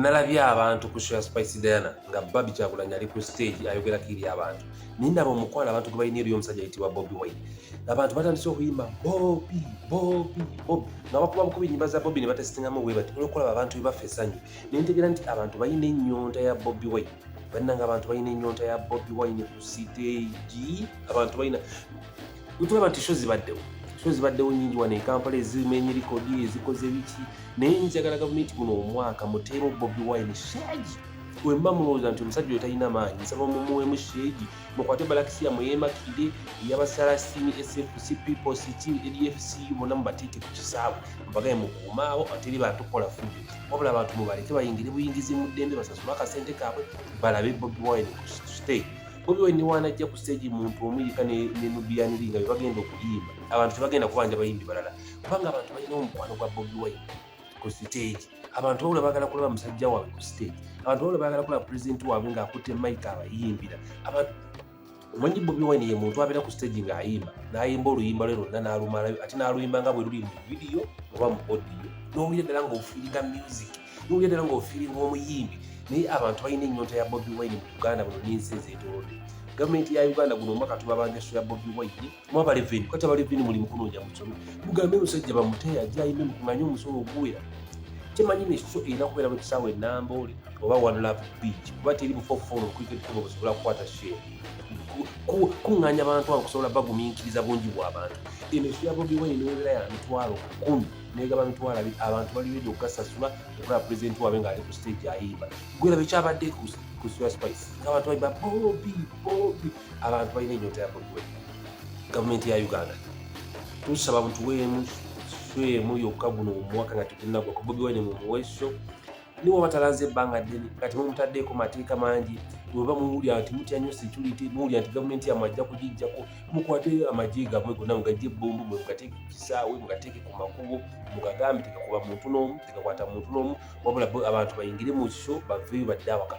nalabye abantu ku show ya Spice Diana nga Barbie Kyagulanyi ali ku stage ayogerako eri abantu naye ndaba omukwano abantu gwe balina eri omusajja ayitibwa Bobi Wine abantu batandise okuyimba Bobi Bobi Bobi nga bakuba bukuba ennyimba za Bobi ne batesitingamu bwe bati olwokulaba abantu bwe bafa essanyu ne ntegeera nti abantu balina ennyonta ya Bobi Wine bannanga abantu balina ennyonta ya bobi wine ku siteegi abantu balina wetulaba nti sho zibaddewo sho zibaddewo nyingi wano ekampala ezimenye likodi ezikoze biki naye njagala gavumenti guno omwaka muteemu bobi wine sheegi wemba mulowooza nti omusajja oyo talina maanyi nsaba mumuwemu sheegi mukwate balakisiya muyemakide eyabasala sini sfc people sitin edfc bona mubateeke ku kisaawe mubagaye mukuumaawo ateri batukola fudu wabula abantu mubaleke bayingire buyingizi mu ddembe basasula akasente kaabwe balabe bobi wine ku state bobi wine niwanajja ku stage muntu omu yika ne nubiyaniri nga bebagenda okuyimba abantu tebagenda kubanja bayimbi balala kubanga abantu balina omukwano gwa bobi wine ku stage abantu wabula bagala kulaba musajja waabwe ku stage abantu wabula bagala kulaba president waabwe ng'akutte mike abayimbira abantu omanyi bobi wine ye muntu abeera ku stage ng'ayimba n'ayimba oluyimba lwe lwonna n'alumalayo ate n'aluyimba nga bwe luli mu vidiyo oba mu odiyo n'owulira ddala ng'ofiiriga music n'owulira ddala ng'ofiiriga omuyimbi naye abantu balina ennyonta ya bobi wine mu uganda buno n'ensi ezeetoolodde gavumenti ya uganda guno omwaka tubabanja sho ya bobi wine mwabale vini kati abali vini muli mukunoonya musomi mugambe musajja bamuteya jayime mukumanye omusolo oguwera temanyi nekyo erina kubeera mu kisaawa enamboole oba one love beach kuba teri bufofoono okwikekuma busobola kukwata share kuŋŋanya abantu abo kusobola bagumiikiriza bungi bw'abantu eno ekyo ya bobi wine newebeera ya mitwalo kumi negaba mitwalo abiri abantu bali redi okugasasula okulaba pulezidenti waabwe ng'ali ku stage ayimba gwerabe kyabadde ku sua spice ng'abantu bali ba bobi bobi abantu balina enyota ya bobi wine gavumenti ya uganda tusaba mutuweemu swemu yokka guno omwaka nga tetunagwa ku bobi wine mumuweso niwo batalanze ebbanga ddene nga temumutaddeeko mateeka mangi weba muwulira nti mutya nyo security muwulira nti gavumenti yamwe ajja kugijjako mukwate amagye gamwe gonna mugajje ebbombo mwe mugateeke ku kisaawe mugateeke ku makubo mugagambe tegakuba muntu n'omu tegakwata muntu n'omu wabula abantu bayingire mu kiso baveeyo badde awaka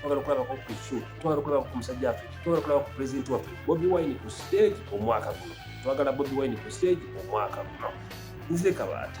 twagala okulabako ku shu twagala okulabako ku musajja waffe twagala okulabako ku pulezidenti waffe bobi wine ku stage omwaka guno twagala bobi wine ku stage omwaka guno nze kabaata